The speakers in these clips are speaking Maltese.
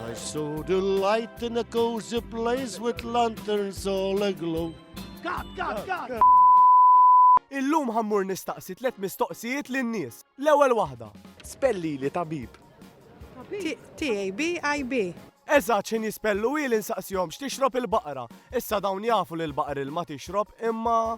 I saw the light in a cozy place with lanterns all aglow. Kat, kat, kat! Illum ħammur nistaqsi tlet mistoqsijiet lin-nies. L-ewwel waħda. Spelli li tabib. T-A-B-I-B. Eżatt x'in jispellu hi li nsaqsihom x'tixrob il-baqra. Issa dawn jafu li l-baqar ilma tixrob imma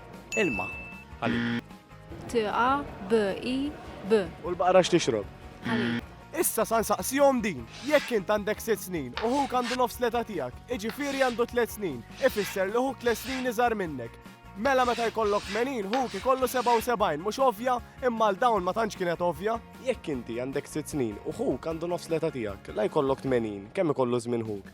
Ilma. T A B I B. U l-baqra x'tixrob? Ħalib. Issa sa nsaqsihom din, jekk int għandek sitt snin u ħuk għandu nofs l-età tiegħek, iġifieri għandu tliet snin, ifisser li ħuk tliet snin iżgħar minnek. Mela meta jkollok 80 ħuk ikollu 77, mhux ovvja? Imma għal dawn ma tantx kienet ovvja. Jekk inti għandek sitt snin u ħuk għandu nofs l-età tiegħek, la jkollok 80, kemm ikollu żmien ħuk?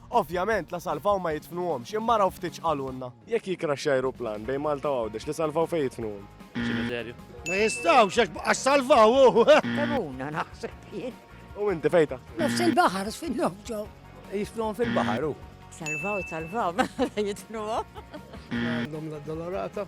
Ovvjament, la salvaw ma jidfnuhomx, imma araw ftit x'qalulna. Jekk jikraxxja ajruplan bejn Malta u Għawdex, li salvaw fejn jidfnuhom? Ċimiterju. Ma jistgħux għax baqgħax salvaw hu! Tebuna naħseb jien. U inti fejn taħseb? Nofs il-baħar sfidlhom ġew. Jidfnuhom fil-baħar hu. Salvaw, salvaw, mela jidfnuhom. Għandhom l-addolorata.